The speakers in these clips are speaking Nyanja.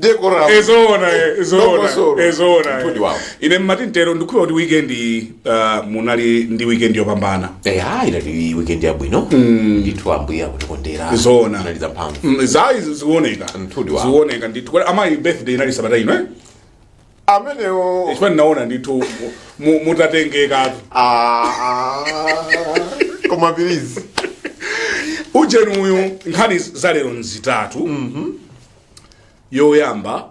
decorum ezoona eh, ezoona Dongosolo. ezoona eh. Mtudi wawo. ine mmati mtero ndikhulupira kuti weekend ah, munali ndi weekend yopambana eya inali weekend yabwino ndithu ambuye akutikondera Zoona. inali zamphamvu Mm, ayi zioneka Mtudi wawo. zioneka ndithu Kodi amayi birthday inali sabata ino eh? amenewo chifukwa ndinaona ndithu mu- mu- mutatengekatu Ah, ah. koma pilizi ujeni uyu nkhani za lero n'zitatu yoyamba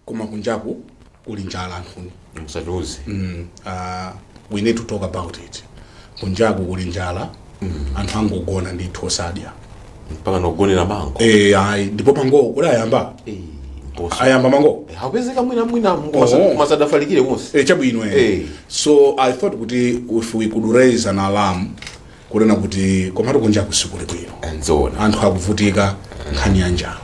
koma kunjaku kuli njala anthuni musatiuze mm, uh, we need to talk about it kunjaku kuli njala anthu angogona ndithu osadya mpaka nogonera mango Eh, ayi ndipo mango kuti ayamba Eh, mposa. ayamba mango Eh, akupezeka mwina mwina Oh. asadafalikire konse Eh, chabwino eh. Eh. so i thought kuti if we could raise an alarm kunena kuti komatu kunja kusikuli bwino nzoona anthu akuvutika nkhani ya njala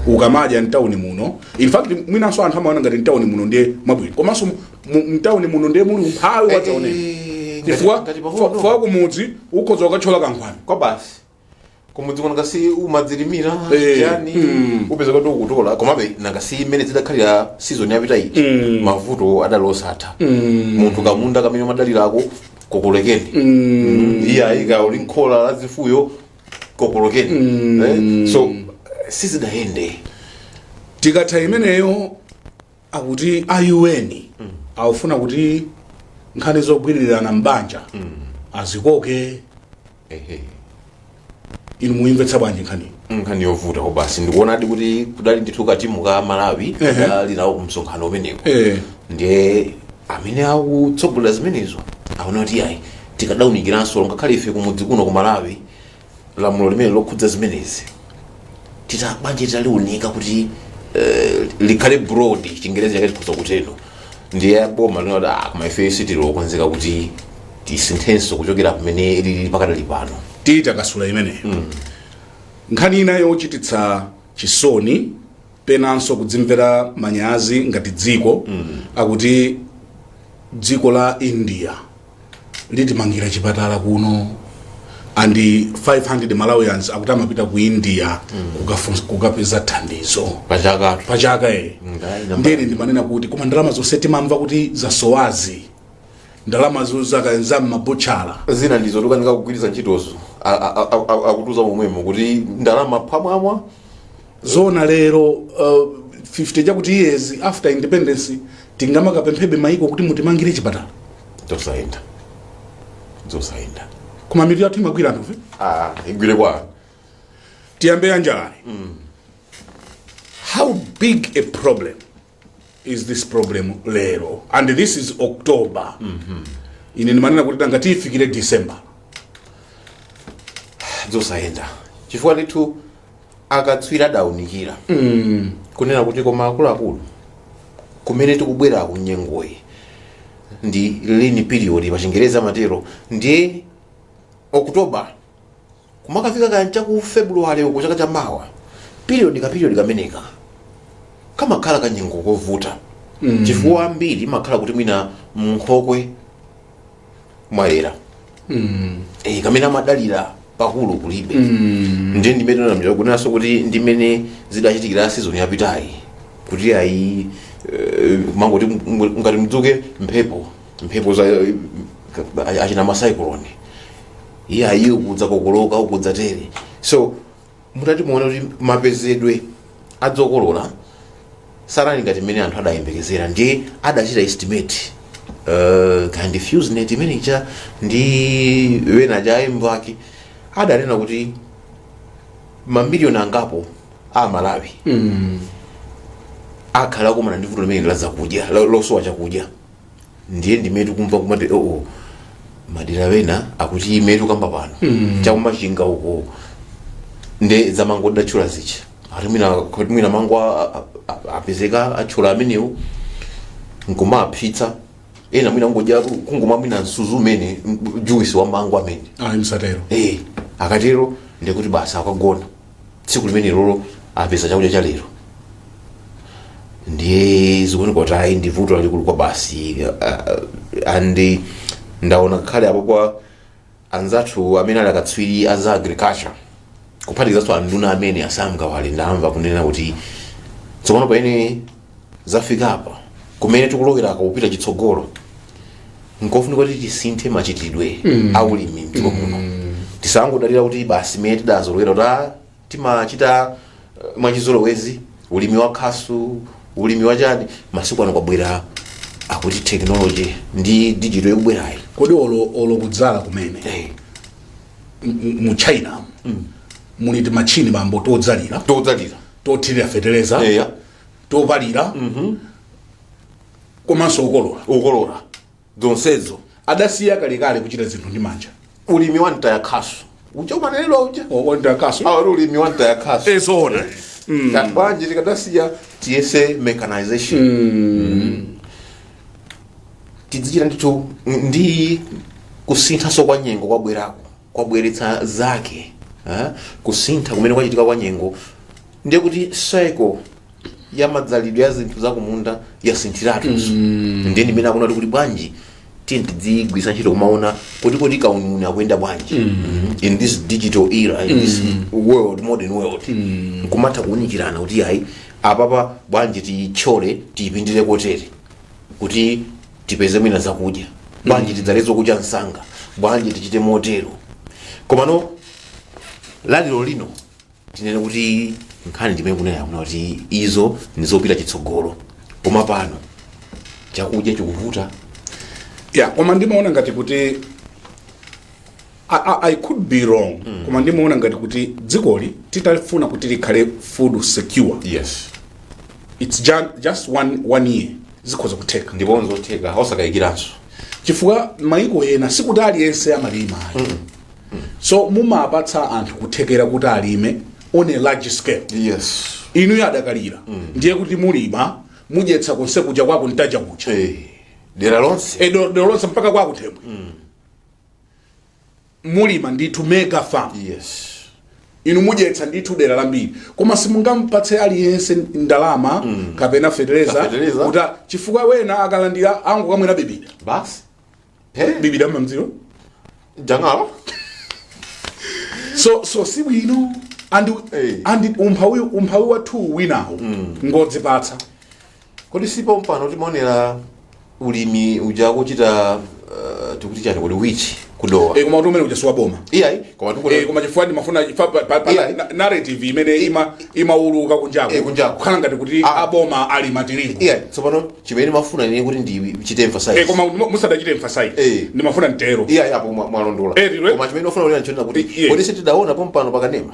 ukamadya mtawuni muno in fact mwinanso anthu amaona ngati mtawuni muno ndiye mwabwino komanso Mu- mtauni muno ndiye muli umphawi wadzaoneni Eh, chifukwa ngati- ngati pang'ono. fa- fa kumudzi ukhoza kukatchola kankhwani kwabasi kumudzi kuno nanga si umadzilimira Eh, yani mm. upeza kuti ukutola komabe nanga si mmene zidakhalira season yapita iyi Mm. mavuto adali osatha munthu kamunda kamene umadalira kokolekeni Mm, iyayi kaya ndi m'khola la zifuyo kokolokeni Eh, so sizidayende tikatha imeneyo akuti a UN akufuna kuti nkhani zogwirirana m'banja azikoke ehe inu muyimvetsa bwanji nkhaniyo nkhani yovuta kwabasi ndikuonadi kuti kudali ndithu katimu ka malawi Ehe. kadali nawo kumsonkhano umenewu Eh. ndiye amene akutsogolera zimenezo aona kuti ayi tikadaunikirabe ngakhale ife kumudzi kuno ku malawi lamulo limene lokhudza zimenezi za banja titaliunika kuti eh, likhale broad chingerezi chake tikhoza kutero ndiye boma linati ah, koma ife sitili okonzeka kuti tisinthenso kuchokera pamene lili pakadali pano titakasula imeneyo nkhani ina yochititsa chisoni penanso kudzimvera manyazi ngati dziko akuti dziko la india litimangira chipatala kuno and 500 malawians akuti amapita ku india kukafunsa- kukapeza thandizo pachaka pachaka e ndene ndimanena kuti koma ndalama zonse timamva kuti zasowazi ndalama zakaenza mmabutchala zina ndizo tikukanika kugwiritsa ntchitozo A- a- a- a- akutiuza momwemo kuti ndalama phwamwamwa zona lero uh, 50 chakuti years after independence tingamakapemphebe maiko kuti mutimangire chipatala tosayenda zosayenda koma mitu yathu imagwira ntchito ife ah igwire kwa tiyambe ya njalayi how big a problem is this problem lero and this is october mm -hmm. ine ndimanena kuti tangati tifike december zosayenda chifukwatu akatswiri adaunikira mm. kunena kuti koma akuluakulu kumene tikubwera kuno nyengoyi ndi lean period pachingereza amatero ndiye oktoba kumakafika kaya ndi chaku february uko chaka cha mawa period ka period kameneka kamakhala kanyengo kovuta mm. chifukwa ambiri imakhala kuti mwina mnkhokwe mwayera mm. e, kamene amadalira pakulu kulibe mm. ndiye ndimene ndimanena kunenanso kuti ndimene zidachitikira season yapitayi kuti ayi eh, munangoti ngati mudzuke mphepo mphepo za achina macyclone iyayi akudzakokoloka akudzatere so mutati muone kuti mapezedwe a zokolola sanali ngati mmene anthu adayembekezera ndiye adachita estimate uh, kaya ndi fews net imene icha ndi wena ndi anzawo ake adanena kuti mamiliyoni angapo amalawi akhala akumana ndi vuto limeneli la zakudya lo- losowa chakudya ndiye ndi mmenetu kumva kumati oo madera wena akuti mmene tikukamba pano cha ku machinga uko nde za mango datchula zichi ati mwina kuti mwina mango a- a- a- apezeka athyola amenewo nkumaphitsa ena mwina kungodya kungomwa mwina msuzi umene m- juice wa mango amene ayi msatero eh akatero ndikuti basi akagona tsiku limenelolo apeza chakudya cha lero ndiye zikuoneka kuti ayi ndi vuto lalikulu kwabasi uh, and ndaona kale apo kwa anzathu amene ali akatswiri a za agriculture kuphatikizanso anduna amene a sam kawale ndamva kunena kuti tsopano pamene zafika apa kumene tikulowerako kupita chitsogolo nkofunika kuti tisinthe machitidwe mm. a ulimi mdziko muno mm. tisangodalira kuti basi mmene tidazolowera kuti ah, timachita uh, mwachizolowezi ulimi wa khasu ulimi wa chani masiku ano kwabwera akuti technology ndi digital ikubwerayi kodi olo olo kudzala kumene hey. mu china mm. muli timachini bambo todzalira todzalira tothirira fetereza yeah. topalira komanso kukolora zonsezo adasiya kalekale kuchita zinthu ndi manja ulimi wa mtaya khasu uja umanenedwa uja ati ulimi wa mtaya khasu ezoona bwanji tikadasiya tiyese mechanization Mm. tidzichita ndithu ndi kusinthanso kwa nyengo kwabwerako kwabweretsa zake eh, kusintha kumene kwachitika kwa nyengo ndiye kuti cycle ya madzalidwe ya zinthu zakumunda yasinthiratu ndiye ndimene akuona kuti bwanji tiye tidzigwiritsa ntchito kumaona kuti kodi kauniuni ukuyenda bwanji Mhm. in this digital era in this world modern world kumatha kuunikirana kuti ayi apapa bwanji tiyitchole tiyipindire kotere kuti tipeze mwina zakudya bwanji tidzale zokucha msanga bwanji tichite motero komano laliro lino tinene kuti nkhani ndimene ikunena kunena kuti izo ndizopita chitsogolo koma pano chakudya chikuvuta ya koma ndimaona ngati kuti I, I, I could be wrong mm. koma ndimaona ngati kuti dzikoli titafuna kuti likhale food secure yes it's ju just one, one year zikhoza kutheka ndipo nzotheka osakayikiranso chifukwa maiko ena sikuti aliyense amalima mm. mm. so mumapatsa anthu kuthekera kuti alime on a large scale yes inuyo adakalira mm. ndiye kuti mulima mudyetsa konse kuja kwa ku Ntaja kuja hey. Eh, dera lonse e, eh, dera lonse mpaka kwa Kuthembwe mm. mulima ndithu mega farm yes inu mudyetsa ndithu dera lambiri koma simungampatse aliyense ndalama mm. kapena fetereza Fetereza. kuti chifukwa wina akalandira angokamwera bibida basi hey. bibida mmudzimo jangalo so so si bwino and, Hey. and umphawi umphawi wathu winawo mm. ngodzipatsa Kodi si pompano timaonera ulimi uja akuchita uh, tikuti chani kodi wichi ku Dowa Eh, koma kuti umene uja si wa boma iyayi koma Eh, tikuti koma chifukwa ndimafuna chifa- pa- pa- pa- Yeah. na- narrative imene ima- imauluka kunjako Eh, kunjako. kukhala ngati kuti Ah. aboma alima tirigu iyayi tsopano chimene ndimafuna ine kuti ndichite Eh, emphasize koma mu- musadachite emphasize Eh. ndimafuna nditero iyayi apo mwa- mwalondola Eh, lilwe. koma chimene ndikufuna kuti nchonena kuti Yeah. kodi sitidaona pompano pakanema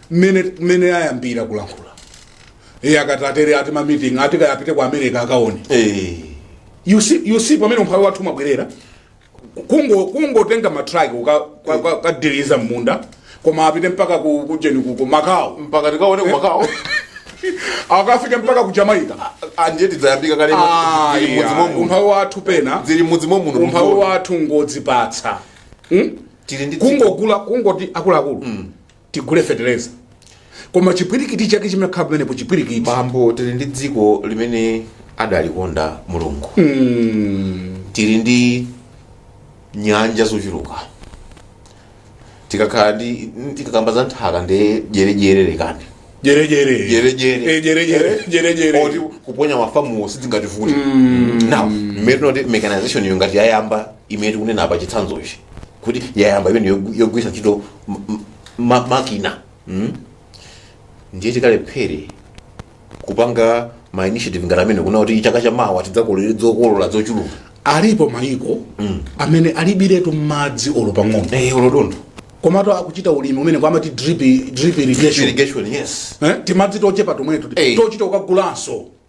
mmene mmene ayambira kulankhula iye akati atere ati ma meeting ati kaya apite ku america akaone Eh. you see you see pamene umphawi wathu umabwerera kungo kungotenga matraki kukathiriza mmunda koma apite mpaka ku kujeni ku Macau mpaka tikaone ku Macau akafike mpaka ku jamaica anje tidzayambika kale Ah, zili mudzi yeah. momuno umphawi wathu pena zili mudzi momuno umphawi mumvula. wathu ngodzipatsa hmm? tili ndi dziko kungogula kungoti akuluakulu tigule feteleza koma chipwirikiti chake chimakhala pamenepo chipwirikiti bambo tili ndi dziko limene adalikonda mulungu tili ndi nyanja zochuluka tikakhala nd tikakamba za nthaka nde jerejere lekani jerejere Jerejere. Eh, jerejere jerejere oti kuponya mafamuwo sizingativute now mmene timati mechanization iyo ngati yayamba imene tikunena apa chitsanzochi kuti yayamba imene yogu- yogwiritsa ntchito m- m- ma- makina mm? ndiye tikalephere kupanga ma initiative ngati amenewo kuti chaka cha mawa tidzakolole zokolola zochuluka alipo mayiko amene alibiretu madzi olo pang'ono eh olo dontho komatu akuchita ulimi umene amati drip drip irrigation irrigation yes eh? timadzi tochepa tomwetu Hey. tochita ukagulanso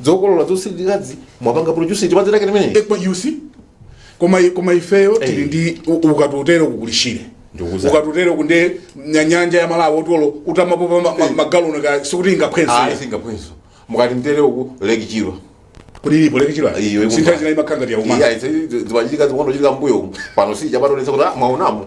zokolola zosiririkazi amapanga produce chipazi lake limeneli ekwa yusi koma koma ifeyo tili Eh. ndi u- ukatutero kukuli shire Ndikuza. ukatutero kuli nya- nyanja ya malawi oti olo utamapopa ma- ma- magaloni ka sikuti ayi ingaphwe singaphwenso mukati mtere uku lake chilwa kuti ilipo lake chilwa Iyo, ikumva. sinthawi zina imakhala ngati yauma iya zimachitika zinkangochitika mbuyo umu pano sichapationetsa kuti ah, mwaonamo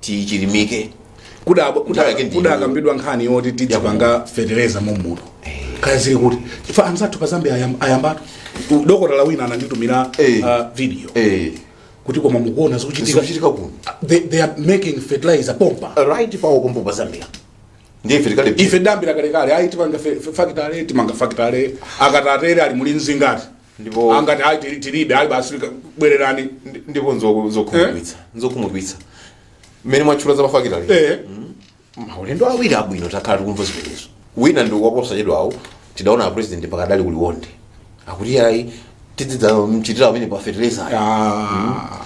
tichilimike Kudabwa- kuda- Nthawi yake ndi kudakambidwa nkhani yoti tidzipanga fetereza mommuno kaya zili kuti chifukwa anzathu pa zambia ayam- ayambatu U- dokotala wina ananditumira Eh. ah, video eh kuti koma mukuona zikuchitika zikuchitika kuno they, they are making fertilizer pompa right pawo pompo pa zambia ndiye ife tikale ife tidayambira kalekale ayi timanga fe- fe- fakitale timanga fakitale akatatere ali muli mzingati ndipo Ah, ngati ayi tili- tilibe ayi basi ka- bwererani ndi- ndipo nzo- zokhumudwitsa nzokhumudwitsa mmene mwatchula za mafakitali eh maulendo awiri abwino takhala tikumva zimenezo wina ndi waposachedwawo tidaona a president mpaka adali ku liwonde akuti ayi tidzidzachitira kumene pa fertilizer ah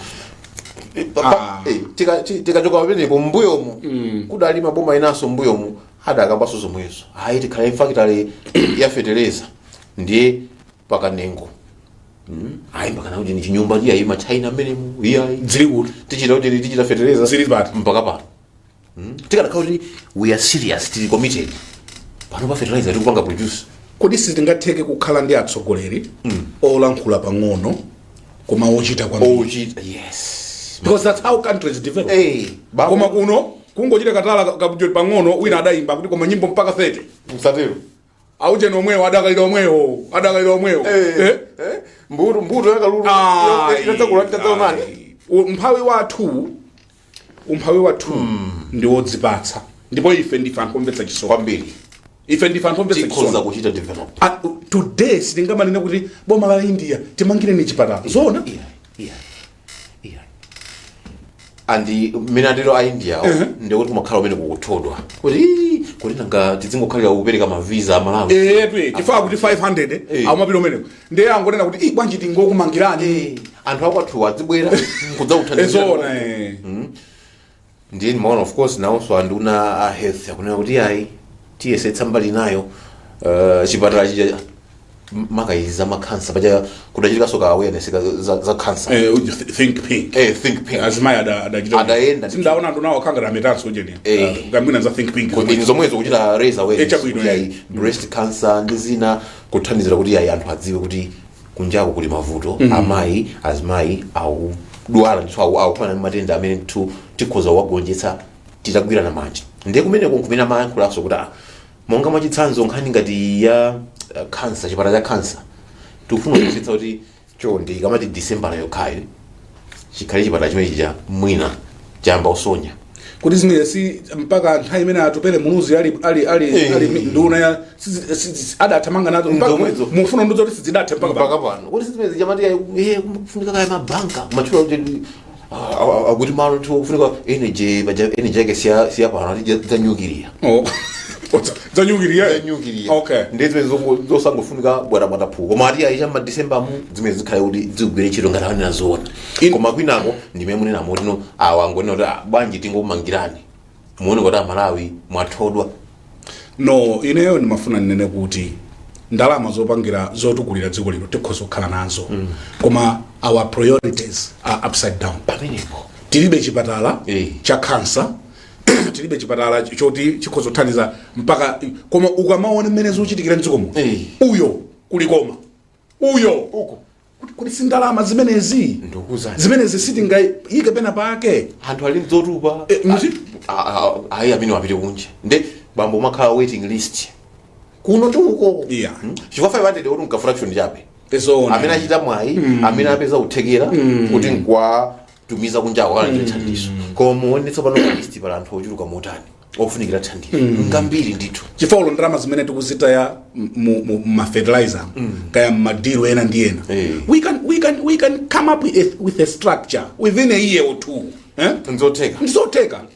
Pa- pa- eh, tika- ti- tikachoka pamenepo mmbuyomo kudali maboma enanso mmbuyomo adakambanso zomwezo ayi tikhala ndi factory ya fertilizer ndiye mpaka nengo ayi mpaka nakuti ndi chinyumba ndi ayi machina amene mu iyayi zili kuti tichita kuti tichita fetereza Zili pati. mpaka pano Mm. tikadakhala kuti we are serious tili committed pano bwenzi fertilizer tikupanga produce kodi sitingatheke kukhala ndi atsogoleri olankhula pang'ono koma ochita kwambiri ochita yes because that's how countries develop hey baba koma kuno kungochita katala kabujoti pang'ono wina adayimba kuti koma nyimbo mpaka 30 musatero aujeni omwewo adakalira omwewo adakalira omwewo Eh, Eh? eh, mbuto mbuto ya kalulu Ayi, idakula ndi ayi. tadzaonani U- umphawi wathu umphawi wathu ndi wodzipatsa ndipo ife ndife anthu omvetsa chisoni kwambiri ife ndife anthu omvetsa tikhoza chisoni kuchita develop Ah, today sitingamanene kuti boma la india timangireni chipatala zoona Yeah, yeah. Iya. ndi mmene atero a india ndikuti kumakhala kumene kuthodwa kuti "Ii, kuti nanga tidzingokhalira kupereka maviza a malawi chifukwa kuti 500 Eh. amapita kumeneko ndiye angonena kuti "Ih, bwanji tingokumangirani Eh, anthu akwathuwa adzibwera kudzakuthandizira ezoona eh. ndiye ndimaona of course nawonso anduna a health akunena kuti ayi tiyesetsa mbali inayo uh, chipatala chija makaka za makhansa paja kudachitikaso ka awareness ka- za, za khansa Eh, uji th- think pink eh, think pink azimayi ada- adachita- Adayenda. ndinaona anthu nawo akhangana ametanso ujeni Eh. kampeni ya think pink kuti zomwezo kuchita raise awareness Eh, chabwino, kuti eh. ayi breast cancer ndi zina kuthandizira kuti ayi anthu adziwe kuti kunjako kuli mavuto amayi azimayi akudwala ndithu aku- akukumana ndi matenda amene ndithu tikhoza kuwagonjetsa titagwirana manja ndiye kumeneko nkumene amayankhulaso kuti ah, monga mwachitsanzo nkhani ngati ya eh, kansa chipatala cha kansa tikufuna kuonetsetsa kuti chonde ikamati disembala yokhayo chikhale chipatala chimene chija mwina chayamba kusonya kuti zimene si mpaka nthawi imene atupele muluzi ali ali ali Eh. ali mi- nduna ya sizi- sizi- adathamanga nazo mpaka Ndomwezo. mufuna ndiwuzeni kuti sizidathe mpaka mpaka pano. pano kuti sizimene zichamatia iye kufunika kaya mabanka kumatchula kuti ah, ah, ah, kuti malo tiwo kufunika energy paja energy yake siya siya pano ati zanyukiliya Oh. zanyukiliya zanyukiliya okay ndi zimene zongo- zosangofunika bwatabwata puku koma ati aise madisembamu zimene zikhale kuti zigwire ntchito ngati anena zoona In- koma kwinako ndimene munena motimo awa angonena kuti "Ah, bwanji tingomangirani muone kuti amalawi mwathodwa no ineyo ndimafuna ndinene kuti ndalama zopangira zotukulira dziko lino tikhoza kukhala nazo koma our priorities are upside down pamenepo tilibe chipatala Eh. cha kansa tilibe chipatala ch- choti chikhoza kuthandiza mpaka koma ukamaona mmene zikuchitikira mdziko muno Eh. uyo kuliko uyo Uko. Kuti- kuti si ndalama zimenezi Ndikuwuzani. zimenezi sitingayike pena pake anthu ali nzotupa Eh, muti? Ah, ah, ah, ayi ameneyo apite kunja nde bambo umakhala waiting list kuno tiuko Yeah. Hmm? chifukwa 500 oti mka fraction chabe Ezoona. amene achita mwayi amene apeza kuthekera kuti nkwa tumiza kunjako alandire thandizo koma muone tsopano palisti pali anthu ochuluka motani ofunikira thandizo ngambiri ndithu chifukwa ulo ndalama zimene tikuzitaya mu- mu- mmafertilizer kaya mmadilu ena ndi ena Eh. we can, we can, we can come up with a, with a structure within a year or two eh? nzotheka ndizotheka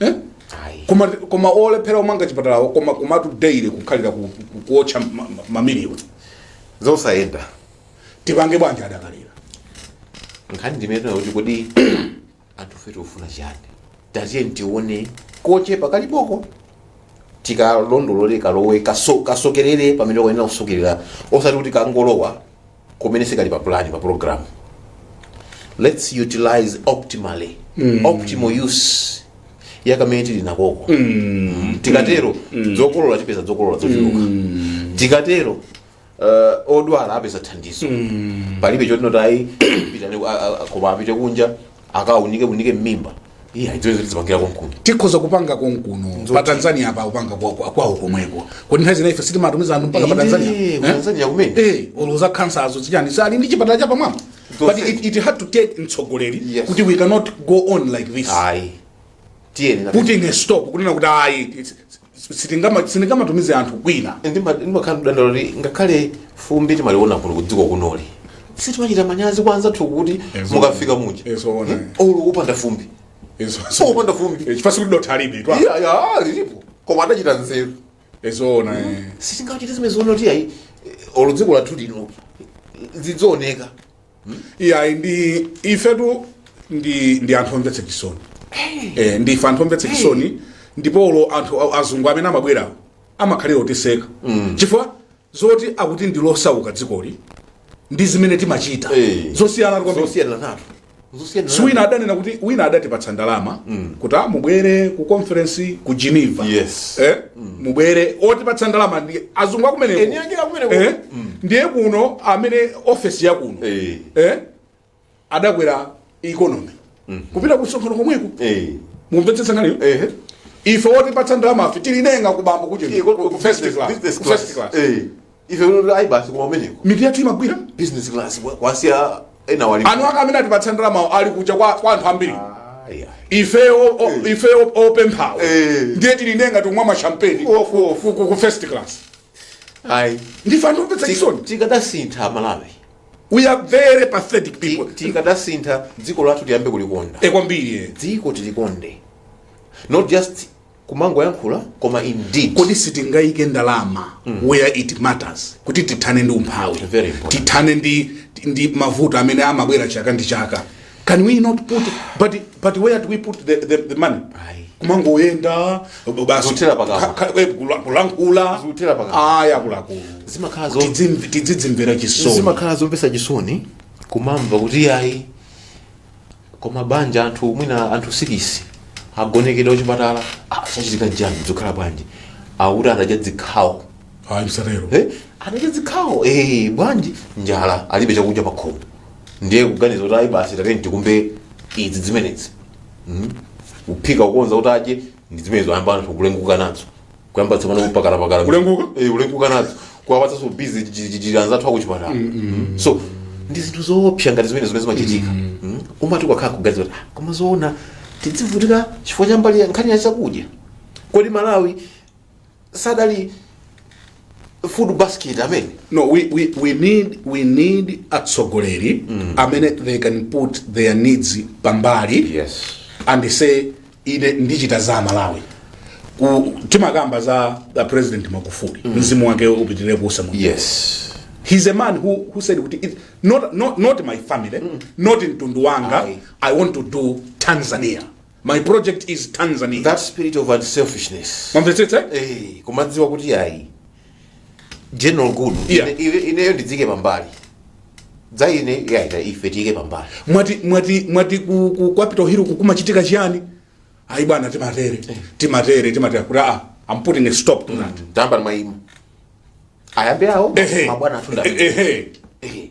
Eh? Ayi. koma koma olephera omanga chipatalawo koma komatu daily kukhalira ku- ku- kuotcha ma- ma- mamiliyoni zosayenda tipange bwanji adakalira nkhani ndimeneyo kuti kodi anthufe tikufuna chiyani tatiye tione kochepa kaliboko tikalondolole kalowe kaso- kasokerere pamene kayenera kusokerera osati kuti kangolowa kumene zikhale pa plan pa program let's utilize optimally optimal use yakamene tili nakoko tikatero zokolola tipeza zokolola zochuluka tikatero uh, odwala apeza thandizo palibe choti n'kuti ayi pitani, a- a- a- koma apite kunja akaunike unike mmimba iya idzo izo tizipangira konkuno tikhoza kupanga konkuno Nzoti. pa tanzania apa kupanga kwa- kwa- kwawo komweko kodi nthawi zina ife sitimatumiza anthu mpaka pa Inde, tanzania ku Eh? Tanzania kumene. Eh, olo za khansazo zichani ali ndi chipatala cha pamwamba but Nzonse. it, it had to take mtsogoleri Yes. kuti we cannot go on like this ayi tiyeni na- putting a stop kunena kuti ayi it's- sitingama- sindingamatumize anthu kwina Ndima- ndimakhala ndikudandaula kuti ngakhale fumbi timaliona kuno kudziko kunoli sitimachita manyazi kwa anzathu kuti Ezo. mukafika muja Ezo, ona. Hmm? olo kupanda fumbi Izo- so kupanda fumbi Eh, chifasi kuti dothi alibe twa Iya, iya, lilipo koma adachita nzeru ezoona eh. sitingachite zimene zoona kuti ayi olo dziko lathu lino lidzioneka iyayi ndi ifetu ndi ndi anthu omvetsa chisoni eh, ndi ife anthu omvetsa chisoni ndipo olo anthu a- azungu amene amabwerawo amakhala akutiseka chifukwa zoti akuti ndi losauka dzikoli ndi zimene timachita Eh. zosiyana kwambiri zosiyana nato zosiyana si wina adanena kuti wina adatipatsa ndalama kuti mubwere ku conference ku geneva Yes. eh? mubwere otipatsa ndalama ndi azungu akumeneko Eni ake akumeneko. Eh? ndiye kuno amene ofesi ya kuno Eh. eh? adakwera economy kupita kusonkhano komweko Eh. mumvetsetsa nkhaniyo Eh. ife otipatsa ndalamafe tili ngati kuba mu kucheni Iko- ku- ku first class, business ku class. first class. Eh. ife kuti ayi basi koma umeneko mitu yathu imagwira business class kwa- kwasiya ena wali anu aka amene atipatsa ndalamawo ali kuja kwa kwa anthu ambiri Ayi, ayi. ife o- o- ife o- opemphawo Eh. ndiye tili ndiye ngati kumwa mashampeni Ofu, ofu. ku first class ayi ndife anthu omvetsa chisoni tikadasintha amalawi we are very pathetic people Ti- tikadasintha dziko lathu tiyambe kulikonda kwambiri eh. dziko tilikonde not just kumangoyankhula koma indeed kodi sitingaike ndalama where it matters kuti tithane ndi umphawi Very important. tithane ndi, ndi mavuto amene amabwera chaka ndi chaka can we not put but, but where do we put the, the, the money Ayi. kumangoyenda basi Zothera pakamwa. ka- ka- eh, kula- kulankhula Zothera pakamwa. aya akuluakulu zimakhala zo- Tidzim- tidzidzimvera chisoni zimakhala zomvetsa chisoni kumamva kuti ayi Koma banja anthu mwina anthu sikisi agonekedwa kuchipatala ah, chachitika n'chani zikukhala bwanji akuti adadya zikhawo ayi msatero Eh, adadya zikhawo eh, bwanji njala alibe chakudya pakhomo ndiye kuganiza kuti ayi basi tiyeni tikumbe izi zimenezi mm? kuphika kukonza kuti adye ndi zimenezo ayamba anthu kulenguka nazo kuyamba tsopano kupakalapakala Kulenguka? Eh, kulenguka nazo kuwapatsanso bizi jijijiri anzathu akuchipatala Mm. so ndi zinthu zoopsa ngati zimene zimene zimachitika Mm. umati ukakhala kuganiza kuti "Ah, koma zoona tidzivutika chifukwa cha mbali ya nkhani ya chakudya kodi malawi sadali food basket amene no we, we, we need we need atsogoleri amene they can put their needs pambali yes and say ine ndichita za amalawi ku timakamba za the president magufuli mzimu wake upitirire kuusa mu yes he's a man who, who said kuti it, not, not, not my family not mtundu wanga Ayi. i want to do tanzania my project is tanzania that spirit of unselfishness mwamvetsetsa eh kumadziwa kuti ayi general good Yeah. Ine- ine- ineyo ndidziike pambali za ine yaita ife tiyike pambali mwati mwati mwati ku, ku capital hill kukumachitika chiyani ayi bwana timatere timatere timatere kuti ah i'm putting a stop to that tayamba ndimayima ayambe awo Ehe. mabwana athu ndamene Ehe. Ehe.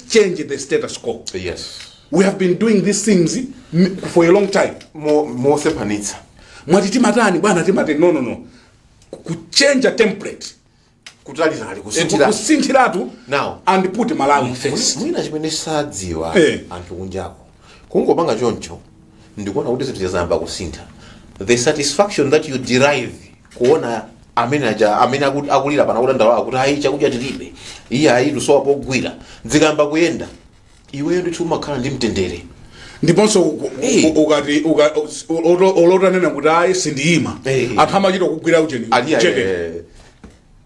change the status quo yes we have been doing these things m- for a long time Mo- mosephanitsa mwati timatani bwana timati no no no kuchenja template kutalitali Eh, kusinthira kusinthiratu Now. and put malawi first mwina chimene sadziwa Eh. anthu kunjako Kungopanga choncho ndikuona kuti zinthu zayamba kusintha. The satisfaction that you derive kuona amene aja amene aku- akulira pena kudandaula kuti ayi chakudya tilibe iye ayi tusowa pogwira zikayamba kuyenda iweyo ndithu umakhala ndi mtendere ndiponso u- u- Eh. u- ukati uka- u- olo- olo utanena kuti ayi sindiyima Eh. anthu amachita kugwira ujeni Ali- jeke. eh,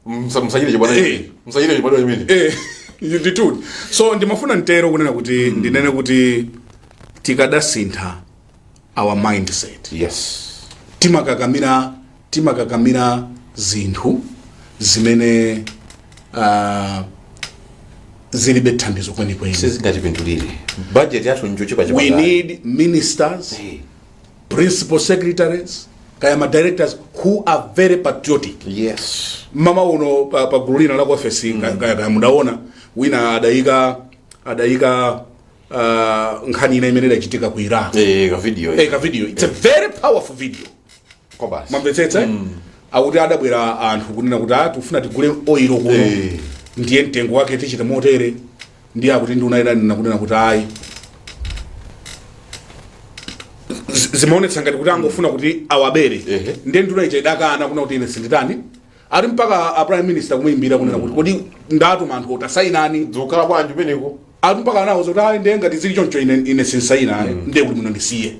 Msa- musachite chibwana Eh. chimene. Musachite chibwana chimene. Eh, ndithu so ndimafuna ntero kunena kuti ndinene kuti tikadasintha our mindset Yes. timakakamira timakakamira zinthu zimene uh, zilibe thandizo kwenikweni Sizingatipindulire. Budget yathu njochepa chepa. we need ministers Eh. principal secretaries kaya ma directors who are very patriotic yes mamawa uno pa, pa gulu lina la ku ofesi mm. kaya kaya mudaona wina adayika adayika uh, nkhani ina imene idachitika ku iraq eh ka video eh, ka video it's a very powerful video kwabasi mwamvetsetsa mm. akuti adabwera anthu kunena kuti ah, tifuna tigule oilo kuno Eh. ndiye mtengo wake tichite motere ndiye akuti nduna inanena kunena kuti ayi Z- zimaonetsa ngati kuti angofuna kuti awabere Ehe. ndiye nduna ija idakana kunena kuti ine sinditani ati mpaka a prime minister kumuyimbira kunena kuti kodi ndatuma anthu oti asayine zikukhala bwanji penepo ati mpaka anawauza zoti ayi ndiye ngati zili choncho ine, ine sinsayina ayi ndiye kuti muno ndisiye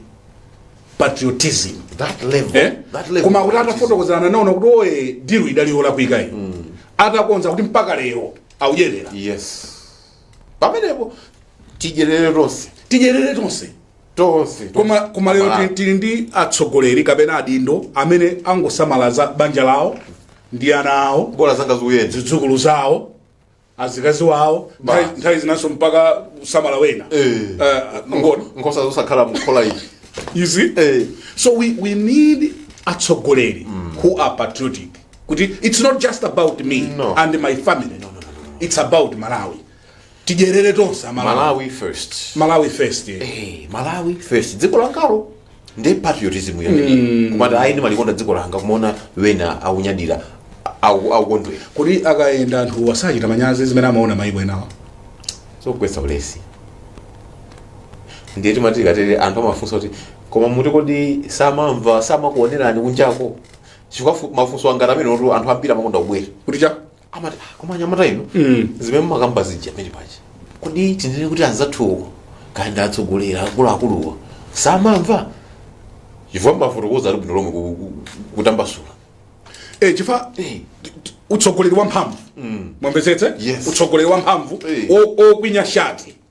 patriotism that level Eh? that level koma kuti atafotokozerana naona kuti ayi dilu idali yolakwika iyi atakonza kuti mpaka lero akuyenera yes pamenepo tidyerere tonse tidyerere tonse tonse koma koma lero Malawi. tili- tili ndi atsogoleri kapena adindo amene angosamala za banja lawo ndi ana awo bola zanga zikuyenda zidzukulu zawo azikazi wawo Ba. nthawi- nthawi zinanso mpaka kusamala ena Eh. Eh, ngona nkhosa zosakhala mkhola iyi izi Eh. so we, we need atsogoleri who are patriotic kuti it's not just about me no. and my family no, no, no, no. it's about malawi tidyerere tonse amalawi malawi first malawi first yeah. hey, malawi first dziko langalo ndi patriotism yake kumati ayi ndimalikonda dziko langa kumaona ena akunyadira aku- akukondwera kodi akayenda anthu asachita manyazi zimene amaona maiko enawa zokugwetsa ulesi ndiye timati tikatere anthu amafunsa kuti koma mukuti kodi samamva samakuonerani kunjako chifukwa fu- mafunso angati amenewotu anthu ambiri amakonda kubwera kutichani amati "Ah, koma anyamata inu zimene mumakamba zija amene paja kodi tinene kuti anzathuwo kaya ndi atsogoleri akuluakuluwo samamva chifukwa mafotokoza bwinobwino lomwe ku- ku- kutambasula Eh, chifukwa Eh. t- t- utsogoleri wamphamvu mwamvetsetse Yes. utsogoleri wamphamvu Eh. o- okwinya shati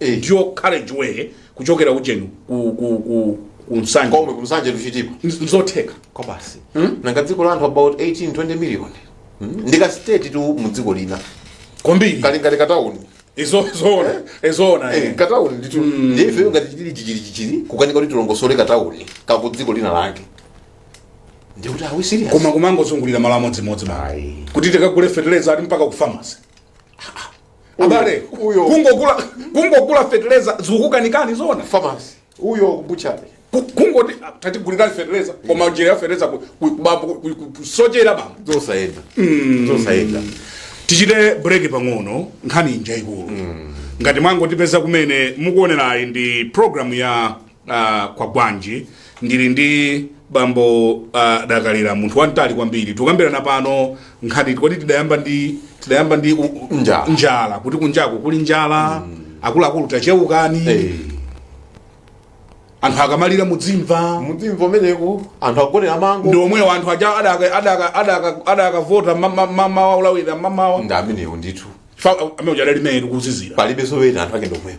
Eh. dual carriage way kuchokera ujeni ku, ku, ku, ku nsanje komwe ku Nsanje to Chitipa Nz- nzotheka kwabasi nanga dziko la anthu about 18 20 million Mm. ndika state tu mu dziko lina kwambiri kali ngati katauni izo zoona izoona Eh, katauni nditu ndiye ife ngati chichili chichili chichili kukanika kuti tilongosole katauni kaku dziko lina lake ndi kuti are we serious koma kumangozungulira malo amodzimodzi basi kuti tikagule fertilizer ati mpaka ku pharmacy abale Uyo. kungogula kungogula feteleza zikukanikani zona famasi uyo kubutchala Ku- kungoti ah, tatigulirani feteleza koma njira ya feteleza ku- ku- bambo, ku- ku- kusochera bambo zosayenda zosayenda tichite break pang'ono nkhani ndi yaikulu ngati mwangotipeza kumene mukuonerayi ndi programu ya Ah, kwagwanji ndili ndi bambo adakalira munthu wamtali kwambiri tikukambirana pano nkhani kodi tidayamba ndi tidayamba ndi u- u- Njala. njala kuti kunjako kuli njala akuluakulu tachewukani Eh, anthu akamalira mudzimva mudzimva umeneku anthu agone amango ndi omwewo anthu aja adaka- adaka- adaka- adakavota ma- ma- ma- mawa ulawira mamawa ndi amenewo ndithu amene uja adali meyetu kuzizira palibe zowena anthu ake ndomwewo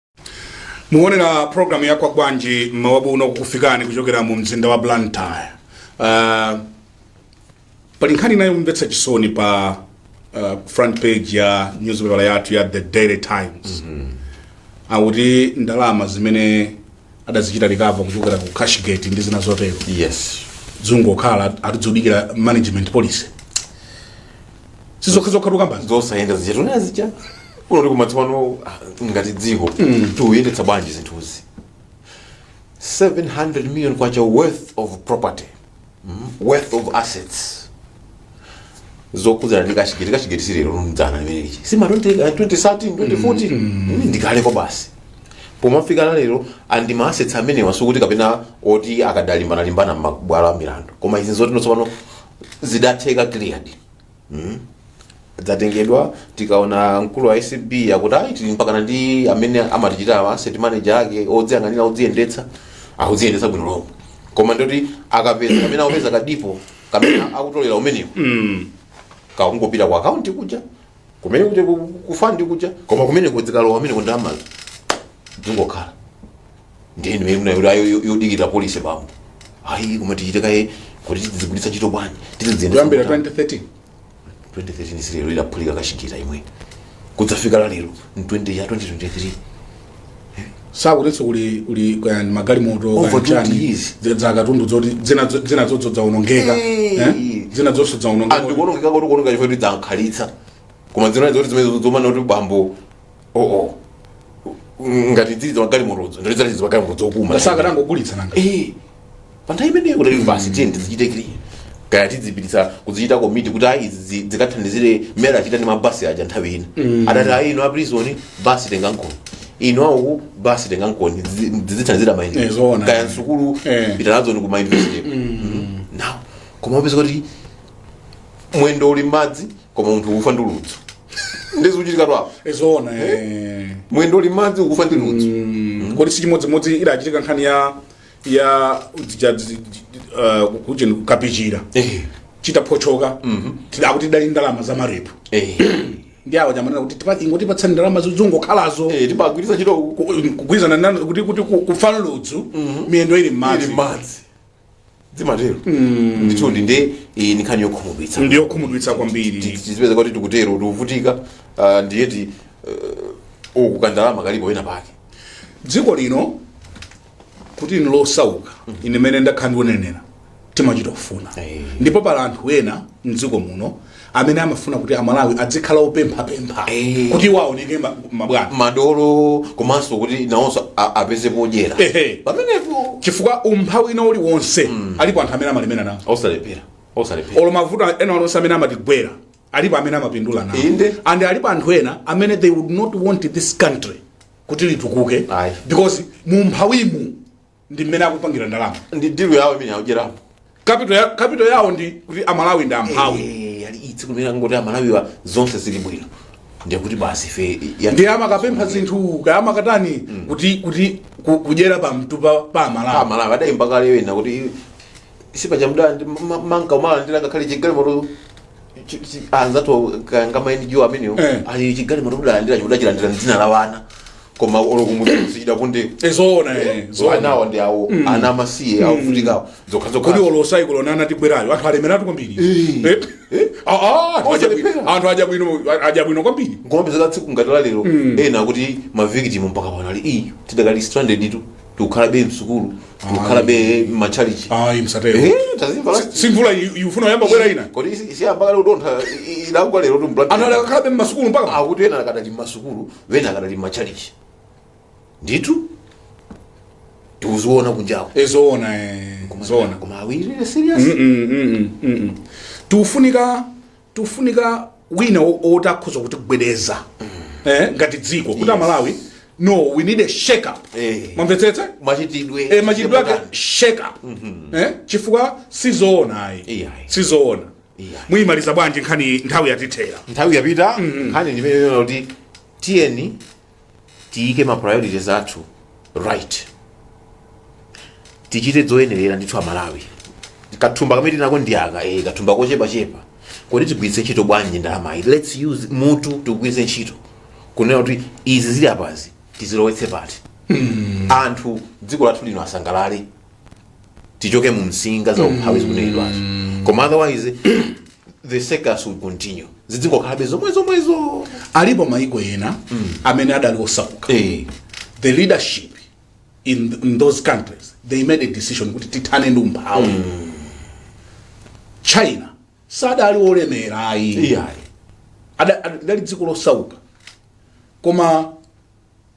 mukuonera programu ya kwagwanji mmawa uno kukufikani kuchokera mu mzinda wa blantyre uh, pali nkhani inayi yomvetsa chisoni pa uh, front page ya newspaper yathu ya the daily times mm -hmm. akuti ndalama zimene adazichita recover kuchokera ku cashgate ndi zina zotero yes zungokhala ati zudikira management policy sizokhazokha tukambazi zosayenda zija timanena zija unotu ndikumati tsopano ah, ngati dziko tiuyendetsa bwanji zinthuzi 700 million kwacha worth of property worth of assets zokhudzana ndi kashigeti kashigeti silero mdzana limeneli si ma 2013 2014 Ii ndi kale kwabasi pomafika lalero andi ma assets amenewa sikuti kapena oti akadalimbana-limbana m'mabwalo a milandu koma izi nzoti tsopano zidatheka cleared dzatengedwa tikaona mkulu wa acb akuti ayi tili mpakana ndi amene amatichita awa asset manager ake odziyang'anira odziyendetsa akudziyendetsa bwino lomwe koma ndoti akapeza kamene akupezaka alipo kamene akutolera kumeneko kakungopita ku akaunti kuja kumene kuti ku- ku fund kuja koma kumene kudzikalowa kumeneko ndalamazo dzingokhala ndiye ndimene akunena kuti ayi tikudikira polisi bambo ayi koma tichite kaye kuti tizigwiritsa ntchito bwanji kuyambira 2013 2013 si lero idaphulika kashigeti imeneyi kudzafika lalero mu 20 ya 2023 sakutinso kuli kuli kaya ndi magalimoto kaya Over ndi chani, 20 years. dzi- za katundu dzoti dzina dzo- dzina dzodzi dzaonongeka Hey. eh? dzina dzonso dzaonongeka andikuonongeka kuti kuonongeka chifukwa kuti dzankhalitsa koma dzina zoti zimene zomana kuti bambo oo ngati dzidzi magalimotodzo ngolozera dzidzi magalimotodzo boma sakanangogulitsa nanga Eh, panthawi imeneyo kuti basi tiye tizichite kili kaya tidzipitisa kuzichita komiti kuti ayi izi dzikathandizire mmene achita ndi mabasi aja nthawi ina adati ayi inu aprizoni basi tengankoni inu auku basi tengankoni dzizi- dzizithandizira Eh, ayi ndi zoona. kaya msukulu Eh. pita nazoni ku mauniversity nawo koma upeza kuti mwendo uli mmadzi koma munthu ufa ndi ludzu ndizikuchitika tu apo eh zoona eh. mwendo uli mmadzi ukufa ndi ludzu Mm, kodi si chimodzimodzi idachitika nkhani ya ya dzija- dzi- dzi- uh, kucheni kukapichira Eh, chitaphochoka tidakuti tidali ndalama za marepu eh, ndiye awo akumanena kuti tipa- ingotipatsani ndalama zizungokhalazo eh, timagwiritsa ntchito ku- kugwirizana nanu kuti kuti ku- kufa ludzu miyendo ili ili mmadzi madzi zimatero ndithudi ndi iyi ni nkhani yokhumudwitsa ndi yokhumudwitsa kwambiri tizipeza kuti tikutero tikuvutika ah, ndiye ti uh, uku kandalama kalipo wena pake dziko lino kuti ni losauka ine mene ndakhala ndikuonera timachita kufuna Eh. ndipo pali anthu ena mdziko muno amene amafuna kuti amalawi adzikhala opemphapempha Eh. kuti iwo aoneke ma- mabwana madolo komanso kuti nawonso a- apeze podyera Ehe. pamenepo chifukwa umphawi wina uliwonse alipo anthu amene amalemera nawo osalephera osalephera olo mavuto ena onse amene amatigwera alipo amene amapindula nawo Inde. and alipo anthu ena amene they would not want this country kuti litukuke Ayi. because mumphawimu ndi mmene akupangira ndalama ndi dilu yawo imene akudyerapo kapito ya- kapital yawo ndi kuti amalawi ndi amphawi Eh, ali tsiku limene angoti amalawiwa zonse zili bwino ndiye kuti basi ife ya- ndiye amakapempha zinthu kaya amakatani kuti kuti ku- kudyera pamutu pa pa amalawi amalawi adayimba kale wina kuti sipaja mda ndi- ma- ma- amanka kumalandira ngakhale chigalimoto chi- chi- anzathu kangama ndi amenewo Eh. ali chigalimoto kudalandira chikudachilandira mdzina la ana koma olokumuzi chidakundewo ezoona eh, zoona anawa ndi awo ana amasiye akuvutikawo kodi zokhazokha olo saikoloni anatibwererayo anthu alemeratu kwambiri Eh. Eh? Ah, ah, anthu aja bwino- Osalephera. anthu aja bwino aja bwino kwambiri koma mpaka tsiku ngati la lero ena kuti mavikitimu mpaka pano ayi tidakali stranded tu tikukhalabe msukulu tikukhalabe mmatchalichi ayi msatero Eh, tazimva la- simvula ikufuna iyambe kubwera ina kodi si- si ambakale utontha i- i- idagwa lerotu ku Blantyre ana adakakhala mmasukulu mpaka akuti ena akadali mmasukulu ena akadali mmatchalichi ndithu tikuziona kunjawo Eh, zoona eh, zoona koma awirire serious tikufunika tifunika wina wo- woti akhoza kutigwedeza eh, ngati dziko kuti amalawi no we need a shake up Eh. mwamvetsetsa machitidwe eh, machitidwe ake shake up eh, chifukwa sizoona ayi Iyayi. sizoona Iyayi. muyimaliza bwanji nkhani nthawi yatithera nthawi yapita nkhani ndimeneyo kuti tiyeni tiyike ma priorities athu right tichite zoyenerera ndithu amalawi kathumba kamene tinako ndi aka eh, kathumba kochepachepa kodi tigwiritse ntchito bwanji ndalamayi lets use mutu tigwiritse ntchito kunena kuti izi zili apazi tizilowetse pati anthu dziko lathu lino asangalale tichoke mu msinga za umphawi zikunenedwazo koma otherwise the circus will continue zidzingokhalabe zomwezomwezo alipo maiko ena amene adali osauka eh the leadership in, in those countries they made a decision kuti tithane ndi umphawi china sadali olemera iyayi Ada- ada- lidali dziko losauka koma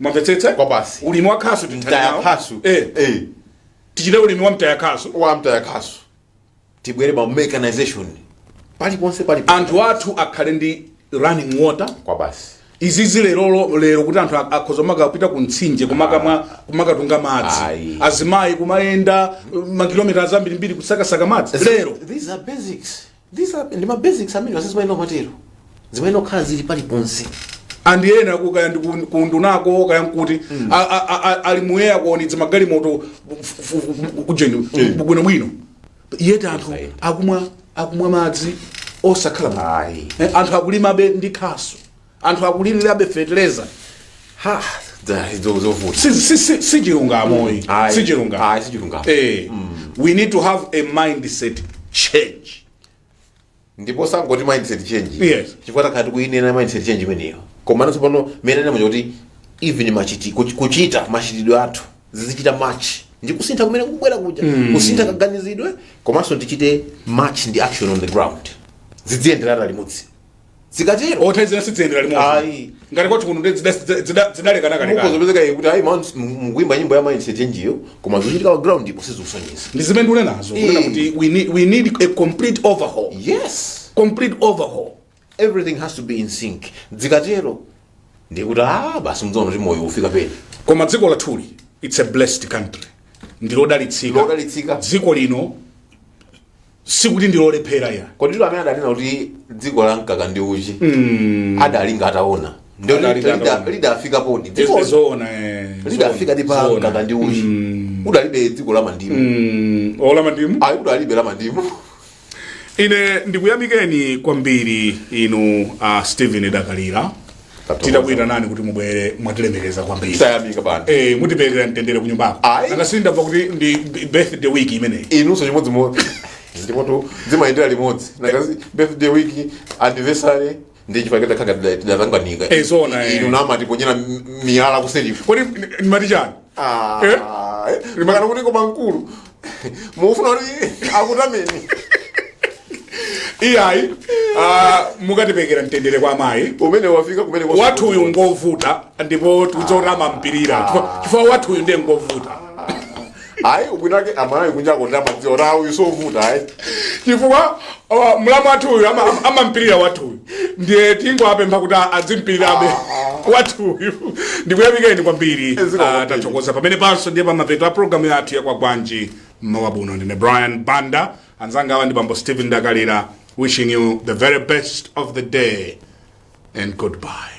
mwamvetsetsa Kwa basi. ulimi wa khasu tithane nawo. mtayakhasu Eh, Eh, tichite ulimi wa mtaya khasu wa mtayakhasu tibwere pa mechanization paliponse pali anthu athu akhale ndi running water kwa basi izizi lero lero kuti anthu ak- akhoza kumakapita ku mtsinje kumakamwa kumakatunga madzi Ayi. azimayi kumayenda uh, makilomita azambirimbiri kusakasaka madzi lero these are basics These are ndi ma basics amenewa zimayenera kumatero zimayenera kukhala zili paliponse ndi ena ku- kaya ndi ku- kundunako kaya nkuti a- a- a- a- ali muyeya kuonetsa magalimoto kujeni bwinobwino yeti anthu akumwa akumwa madzi osakhala bwino. Ayi. Eh, anthu akulimabe ndi khasu anthu akulilirabe feteleza ha dza- izo zovuta Si- si- si- si chilungamo ayi. Ayi. si chilungamo Ayi, si chilungamo. Eh, we need to have a mindset change ndipo sitingoti mindset change Yes. chifukwa takhala tikuyinena mindset change imeneyo koma nanso pano monena mweni kuti even machiti- kuch- kuchita machitidwe athu zizichita match ndi kusintha kumene kukubwera kuja kusintha kaganizidwe komanso tichite match ndi action on the ground zidziyenderana limodzi zikatero othe zina sidziyendera Ayi. limodzi ngati kwathu kuno ndiye zida- zida- zidalekanalekana mukudzapezeka ndiye kuti ayi man mukuimba nyimbo ya mindset change-yo koma zochitika pa ground-po sizikusonyeza ndi zimene mukunenazo kunena Eh. kuti we need, we need a complete overhaul yes complete overhaul everything has to be in sync zikatero ndikuti ah basi mudzaona kuti moyo ufika pena koma dziko lathuli it's a blessed country ndilodalitsika Lodalitsika. dziko lino sikuti ndi lolephera ayi koditu amene adanena kuti dziko la mkaka ndi uchi adalinga ataona ndio Adalinga lida- ataona. lidafikapodi dziko zoona eh, lidafikadi zoona, pa zoona. mkaka ndi uchi Mm, sudali dziko la mandimu mm, ola mandimu ayi udalibe la mandimu ine ndikuyamikeni kwambiri inu a stephen dakalira titakuyitanani kuti mubwere mwatilemekeza kwambiri tayamika bwana Eh, mutiperekere mtendere ku nyumbako Ayi. nanga sindamva kuti ndi b- birthday week imeneyi inunso chimodzimodzi ndipotu zimayendera limodzi ndi akazi birthday week anniversary ndi chipaketa khanga tidatanganidwa Eh, zoona, eh. inu mumatiponyera m- miyala kuselifu kodi timati chani Eh? limakalanguniko mankulu mufuna kuti akutameni iyayi ah, mukatipekera mtendere kwa mayi umene wafika kumene kwa- wathu uyu ngovuta ndipo timadziwa kuti amampirira Chifukwa- chifukwa wathu uyu ndiye ngovuta ayi ubwinake amayi kunja amadziwa kuti ayi uyu sovuta ayi chifukwa Oh, mlamu wathu uyu ama- ama- amampirira wathu uyu ndiye tingowapempha kuti a- adzimpirirabe wathu uyu ndikuyamikeni kwambiri Zikomo Ah, kwambiri. tathokoza pamene panso ndiye pamapeto a programu yathu ya Kwagwanji mmawa uno ndine brian banda anzanga awa ndi bambo stephen dakalira wishing you the very best of the day and goodbye.